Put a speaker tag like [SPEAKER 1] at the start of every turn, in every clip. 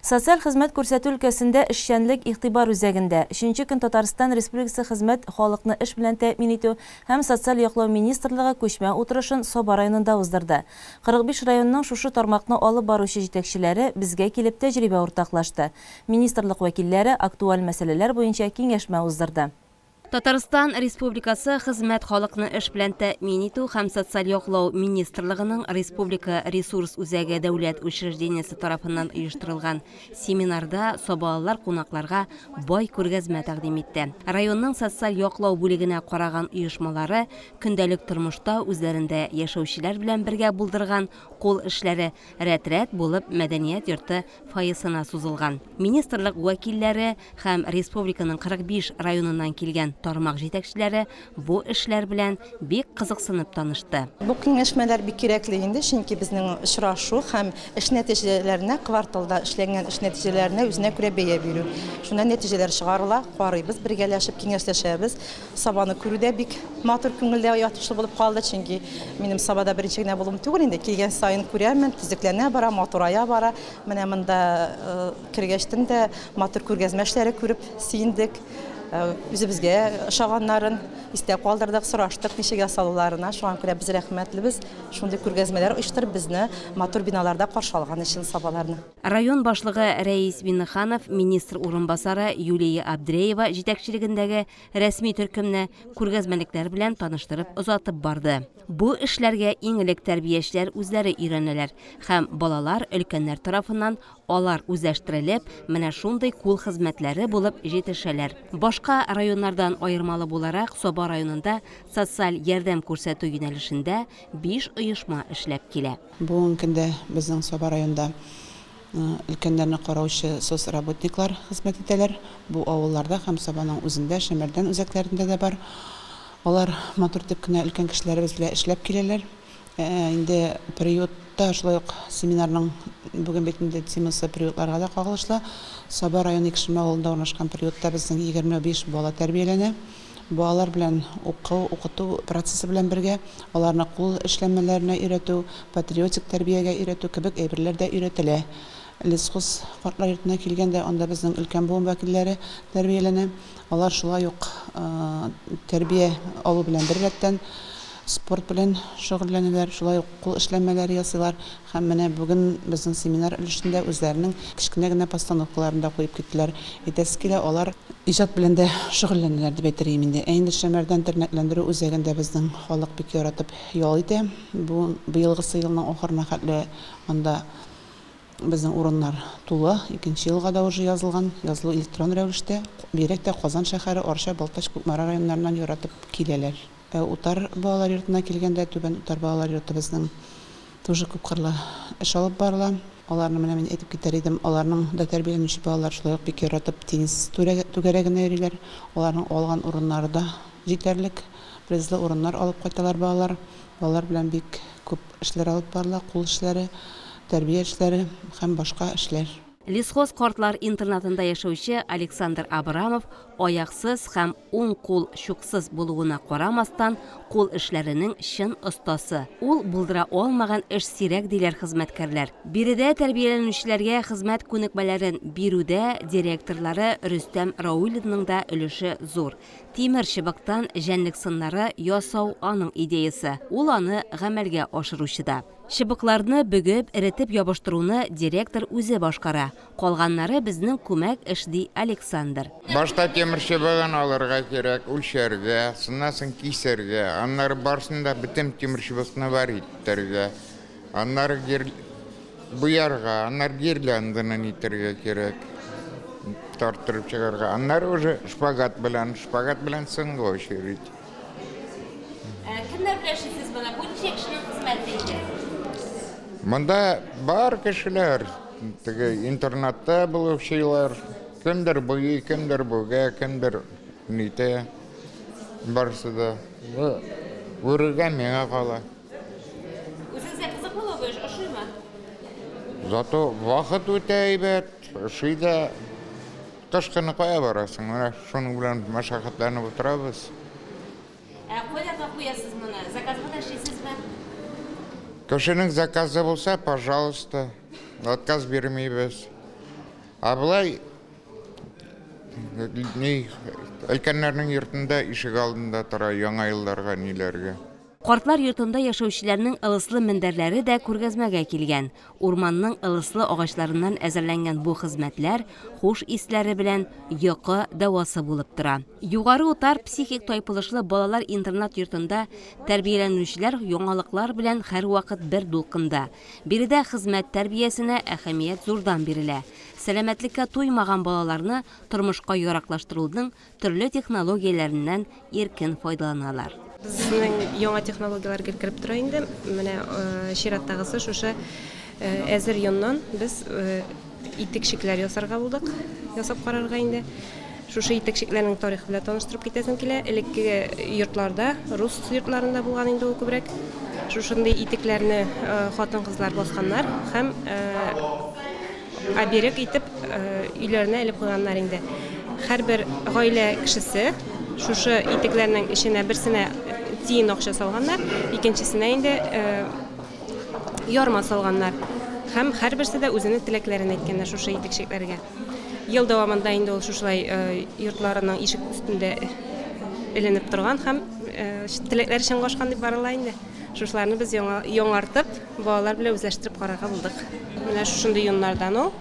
[SPEAKER 1] Социаль хезмәт күрсәтү өлкәсендә эшчәнлек игътибар үзәгендә, өченче көн Татарстан Республикасы Хезмәт, халыкны эш белән тәэмин итү һәм социаль яклау министрлыгы күчмә утырышын Саба районында уздырды. 45 районның шушы тармакны алып баручы җитәкчеләре безгә килеп тәҗрибә уртаклашты, министрлык вәкилләре актуаль мәсьәләләр буенча киңәшмә уздырды. Татарстан
[SPEAKER 2] Республикасы Хезмәт халыкны эш белән тәэмин итү һәм социаль яклау министрлыгының Республика ресурс үзәге дәүләт учреждениесе тарафыннан оештырылган семинарда сабалылар кунакларга бай күргәзмә тәкъдим итте. Районның социаль яклау бүлегенә караган оешмалары көндәлек тормышта үзләрендә яшәүчеләр белән бергә булдырган Кул эшләре рәт-рәт булып мәдәният йорты фойесына сузылган. Министрлык вәкилләре һәм республиканың 45 районыннан килгән тармак җитәкчеләре бу эшләр белән бик кызыксынып танышты. Бу киңәшмәләр
[SPEAKER 3] бик кирәкле инде, чөнки безнең очрашу һәм эш нәтиҗәләренә, кварталда эшләнгән эш нәтиҗәләренә үзенә күрә бәя бирү. Шуннан нәтиҗәләр чыгарыла, карыйбыз, бергәләшеп киңәшләшәбез. Сабаны күрү дә бик матур, күңелдә ятышлы булып калды, чөнки минем Сабада беренче генә булуым түгел инде, килгән саен күрәмен, төзекләнә бара, матурая бара. Менә монда кергәчтен дә матур күргәзмә эшләре күреп сөендек, үзебезгә ошаганнарын истә калдырдык, сораштык ничек ясалуларына, шуңа күрә без рәхмәтлебез шундый күргәзмәләр оештырып, безне матур биналарда каршы алган өчен Сабаларны. Район башлыгы
[SPEAKER 2] Рәис Миннеханов, министр урынбасары Юлия Абдреева җитәкчелегендәге рәсми төркемне күргәзмәлекләр белән таныштырып озатып барды. Бу эшләргә иң элек тәрбиячеләр үзләре өйрәнәләр һәм балалар өлкәннәр тарафыннан алар үзләштерелеп, менә шундый кул хезмәтләре булып җитешәләр. Башка районнардан аермалы буларак, Саба районында социаль ярдәм күрсәтү юнәлешендә биш оешма эшләп килә. Бүгенге көндә
[SPEAKER 4] безнең Саба районында Өлкәннәрне караучы соцработниклар хезмәт итәләр. Бу авылларда һәм Сабаның үзендә, Шәмәрдән үзәкләрендә дә бар. Алар матур итеп кенә өлкән кешеләребез белән эшләп киләләр. Инде приютта, шулай ук семинарның бүген бит инде темасы приютларга да кагылышлы. Саба районы Икшермә авылында урнашкан приютта безнең егерме биш бала тәрбияләнә. Балалар белән уку, укыту процессы белән бергә аларны кул эшләнмәләренә өйрәтү, патриотик тәрбиягә өйрәтү кебек әйберләр дә өйрәтелә. Лесхоз картлар йортына килгәндә, анда безнең өлкән буын вәкилләре тәрбияләнә. Алар шулай ук тәрбия алу белән беррәттән, спорт белән шөгыльләнәләр, шулай ук кул эшләнмәләре ясыйлар. Һәм менә бүген безнең семинар өлешендә үзләренең кечкенә генә постановкаларын да куеп киттеләр. Әйтәсе килә, алар. Иҗат белән дә шөгыльләнәләр дип әйтер идем инде. Ә инде Шәмәрдән тернәкләндерү үзәген дә безнең халык бик яратып ял итә. Бу быелгысы елның ахырына хәтле анда безнең урыннар тулы. Икенче елга да уже язылган. Язылу электрон рәвештә. Бигрәк тә Казан шәһәре, Арча, Балтач, Кукмара районнарыннан яратып киләләр. Ә Утар балалар йортына килгәндә, Түбән Утар балалар йорты безнең тоже күпкырлы эш алып барыла. Аларны менә мин әйтеп китәр идем, аларның да тәрбияләнүче балалар шулай ук бик яратып теннис түгәрәгенә йөриләр. Аларның алган урыннары да җитәрлек, призлы урыннар алып кайталар балалар. Балалар белән бик күп эшләр алып барыла, кул эшләре, тәрбия эшләре һәм башка эшләр. Лесхоз картлар
[SPEAKER 2] интернатында яшәүче Александр Абрамов аяксыз һәм уң кул чуксыз булуына карамастан, кул эшләренең чын остасы. Ул булдыра алмаган эш сирәк, диләр хезмәткәрләр. Биредә тәрбияләнүчеләргә хезмәт күнекмәләрен бирүдә директорлары Рөстәм Раулинның да өлеше зур. Тимер чыбыктан җәнлек сыннары ясау аның идеясе, ул аны гамәлгә ашыручы да. Чыбыкларны бөгеп, эретеп ябыштыруны директор үзе башкара, калганнары безнең күмәк эш, ди Александр. Башта тимер
[SPEAKER 5] чыбыгын алырга кирәк, үлчәргә, шуннан соң кисәргә, аннары барсын да бөтен тимер чыбыкны бар итәргә, аннары гир... буярга, аннары гирлянданы нитәргә кирәк, тарттырып чыгарга, аннары уже шпагат белән, шпагат белән сынга очередь. Ә
[SPEAKER 2] кемнәр белән эшлисез моны? Бу ничә кешенең хезмәте инде? Монда
[SPEAKER 5] бар кешеләр, теге интернатта булучылар, кемдер буи, кемдер бүгә, кемдер нитә. Барысы да. Бу үрергә миңа кала.
[SPEAKER 2] Үзегезгә кызыклы бу эш, ошыймы?
[SPEAKER 5] Зато вакыт үтә әйбәт, ошый да. Кыш көне кая барасың? Менә шуның белән мәшәкатьләнеп утырабыз. Ә
[SPEAKER 2] каядагы куясыз моны? Заказга да эшлисезме?
[SPEAKER 5] Кешенең заказы булса, пожалуйста, отказ бирмибез. Ә болай ни өлкәннәрнең йортында ишек алдында тора яңа елларга, ниләргә. Картлар йортында
[SPEAKER 2] яшәүчеләрнең ылыслы мендәрләре дә күргәзмәгә килгән. Урманның ылыслы агачларыннан әзерләнгән бу хезмәтләр хуш исләре белән йокы дәвасы булып тора. Югары Утар психик тайпылышлы балалар интернат-йортында тәрбияләнүчеләр яңалыклар белән һәрвакыт бер дулкында. Биредә хезмәт тәрбиясенә әһәмият зурдан бирелә. Сәламәтлеккә туймаган балаларны тормышка яраклаштыруның төрле технологияләреннән иркен файдаланалар. Безнең
[SPEAKER 6] яңа технологияләр гел кереп тора инде. Менә чираттагысы шушы әзер йоннан без итекчекләр ясарга булдык. Ясап карарга инде. Шушы итекчекләрнең тарихы белән таныштырып китәсем килә. Элекке йортларда, рус йортларында булган инде ул күбрәк. Шушындый итекләрне хатын-кызлар басканнар һәм Ә берек итеп өйләренә элеп куйганнар инде. Һәрбер гаилә кешесе шушы итекләрнең эченә берсенә тиен акча салганнар, икенчесенә инде ярма салганнар. Һәм һәрберсе дә үзенең теләкләрен әйткәннәр шушы итекчекләргә. Ел дәвамында инде ул шушылай йортларының ишек өстендә эленеп торган һәм теләкләре чынга ашкан дип барыла инде. Шушыларны без яңа яңартып, балалар белән үзләштереп карарга булдык. Менә шушындый йоннардан ул.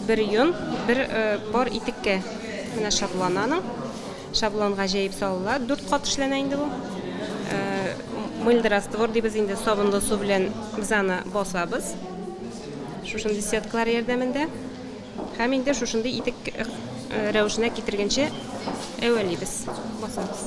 [SPEAKER 6] Бер йон, бер пар итеккә менә шаблон аның. Шаблонга җәеп салыла. Дүрт кат эшләнә инде бу. Мыльды раствор дибез инде, сабынлы су белән без аны басабыз. Шушындый сеткалар ярдәмендә. Һәм инде шушындый итек рәвешенә китергәнче әвәлибез, басабыз.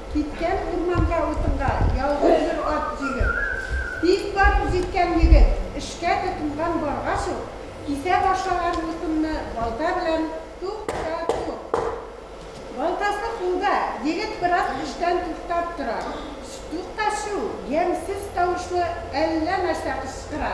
[SPEAKER 7] Киткән урманга утынга ялгыз бер ат җигеп. Бик барып җиткән егет, эшкә тотынган баргач ук, кисә башлаган утынны балта белән тук-та-тук. Балтасы кулда, егет бераз эштән туктап тора. Тук-та-чу! ямьсез тавышлы әллә нәрсә кычкыра.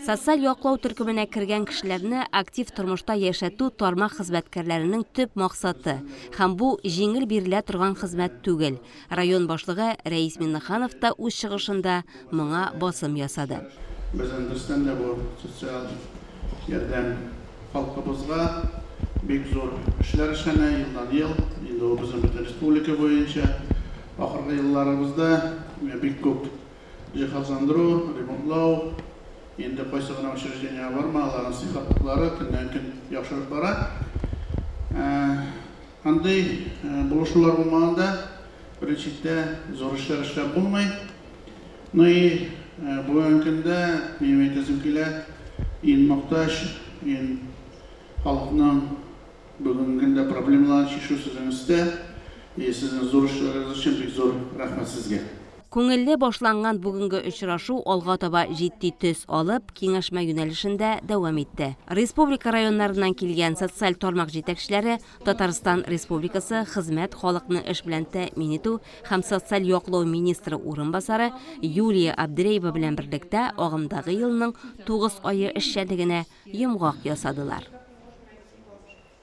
[SPEAKER 2] Социаль яклау төркеменә кергән кешеләрне актив тормышта яшәтү тармак хезмәткәрләренең төп максаты, һәм бу җиңел бирелә торган хезмәт түгел. Район башлыгы Рәис Миннеханов та үз чыгышында моңа басым ясады. Безнең төстән
[SPEAKER 8] дә бу социаль ярдәм халкыбызга бик зур эшләр эшләнә елдан-ел. Инде ул безнең бөтен республика буенча ахыргы елларыбызда бик күп. Җиһазландыру, ремонтлау, инде кайсы гына учреждениегә барма, аларның сыйфатлылары көннән-көн яхшырып бара. Андый булышулар булмаганда, беренче чиктә, зур эшләр эшләп булмый. Ну и бүгенге көндә, минем әйтәсем килә, ин мохтаҗ, ин халыкның бүгенге көндә проблемаларын чишү сезнең өстә. И сезнең зур эшләрегез өчен бик зур рәхмәт сезгә. Күңелле
[SPEAKER 2] башланган бүгенге очрашу алга таба җитди төс алып, киңәшмә юнәлешендә дәвам итте. Республика районнарыннан килгән социаль тармак җитәкчеләре Татарстан Республикасы Хезмәт, халыкны эш белән тәэмин итү һәм социаль яклау министры урынбасары Юлия Абдряева белән берлектә агымдагы елның тугыз ае эшчәнлегенә йомгак ясадылар.